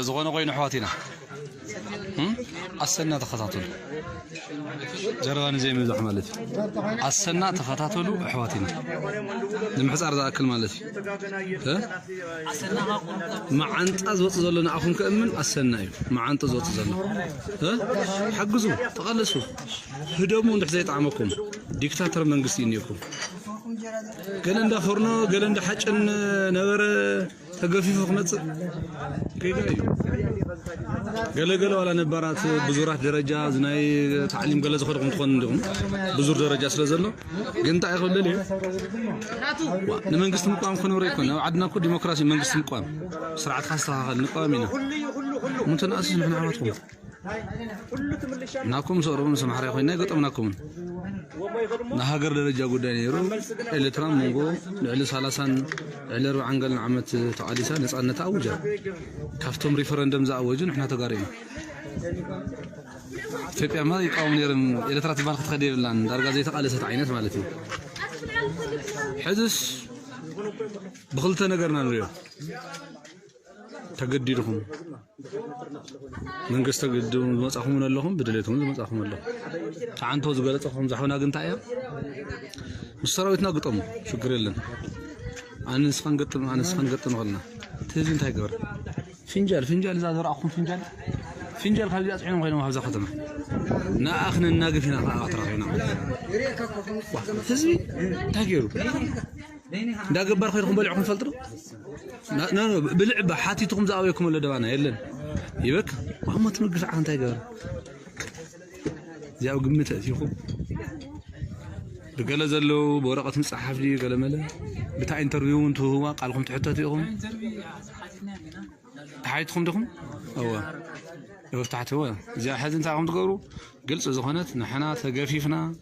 ዝኾነ ኮይኑ ኣሕዋት ኢና ኣሰና ተኸታተሉ ዘረባ ንዘይምብዛሕ ማለት እዩ ኣሰና ተኸታተሉ ኣሕዋቲና ንምሕፃር ዝኣክል ማለት እዩ መዓንጣ ዝወፅ ዘሎ ንኣኹም ከእምን ኣሰና እዩ መዓንጡ ዝወፅ ዘሎ ሓግዙ ተቐለሱ ህደሙ እንድሕ ዘይጣዕመኩም ዲክታተር መንግስቲ እዩ እኒኦኩም ገለ እንዳ ፎርኖ ገለ እንዳ ሓጭን ነበረ ተገፊፉ ክመጽእ ጌጋ እዩ ገለ ገለ ዋላ ነባራት ብዙራት ደረጃ ናይ ታዕሊም ገለ ዝኸድኩም ትኾኑ እንዲኹም ብዙር ደረጃ ስለ ዘሎ ግን እንታይ እዩ ክብል ንመንግስቲ ምቋም ክነብረ ይኮን ኣብ ዓድና እኮ ዲሞክራሲ መንግስቲ ምቋም ስርዓትካ ኣስተኻኸል ንቋም ኢና ምንተናእስስ ንሕና ኣሕዋትኩም ናኩም ሰሩ ምስ ኣምሓራይ ኮይና ኣይገጠምናኩምን ናይ ሃገር ደረጃ ጉዳይ ነይሩ ኤርትራ መንጎ ልዕሊ ሰላሳን ልዕሊ ኣርባዓን ገለን ዓመት ተቓሊሳ ነፃነታ ኣውጃ ካብቶም ሪፈረንደም ዝኣወጁ ንሕና ተጋሩ ኢና ኢትዮጵያ ማ ይቃወም ነይረን ኤርትራ ትበሃል ክትኸደ የብላን ዳርጋ ዘይተቓለሰት ዓይነት ማለት እዩ ሕዝስ ብክልተ ነገርና ንሪኦ ተገዲድኹም መንግስቲ ተገዲድኩም ዝመጻኹምን ኣለኹም ብድሌትኩም ዝመጻኹም ኣለኹም ተዓንቶ ዝገለጸ ከምዚ ሓውና ግን እንታይ እያ ምስ ሰራዊትና ግጠሙ ሽግር የለን ኣነ ንስኻን ገጥም ኣነ ንስኻን ገጥም ኸልና እቲ ህዝቢ እንታይ ገበረ ፍንጃል ፍንጃል እዛ ዘረኣኹም ፍንጃል ፍንጃል ካብዚኣ ፅዒኖም ኮይኖም ኣብዛ ከተማ ንኣ ክነናግፍ ኢና ከዓ ተራኺብና ህዝቢ እንታይ ገይሩ እንዳገባር ኮይንኩም በሊዕኩም ትፈልጡ ዶ ና- ና- ና- ብልዕባ ሓቲትኩም ዝኣበየኩም ኣሎ ደባና የለን ይበክ ኣሞ ትምግሽ ዓኽ እንታይ ገበረ እዚኣብ ግምት ኣእቲኹም ብገለ ዘለዉ ብወረቐት ምፅሓፍ ድዩ ገለ መለ ብታ ኢንተርቪው እውን ትህዋ ቃልኩም ትሕተቱ ኢኹም ተሓይትኩም ዲኹም እወ እወ ተሓትወ እዚኣ ሕዚ እንታይ ከም ትገብሩ ግልፂ ዝኾነት ንሕና ተገፊፍና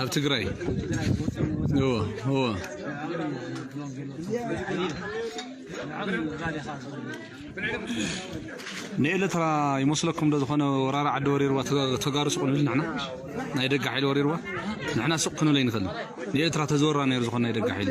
ኣብ ትግራይ እወ እወ ንኤለትራ ይመስለኩም ዶ ዝኾነ ወራሪ ዓዲ ወሪርዋ ተጋሩ ስቁሉ ንሕና ናይ ደገ ሓይሊ ወሪርዋ ንሕና ሱቅ ክንብል ኣይንኽእልን ንኤርትራ ተዝወራ ነይሩ ዝኾነ ናይ ደገ ሓይሊ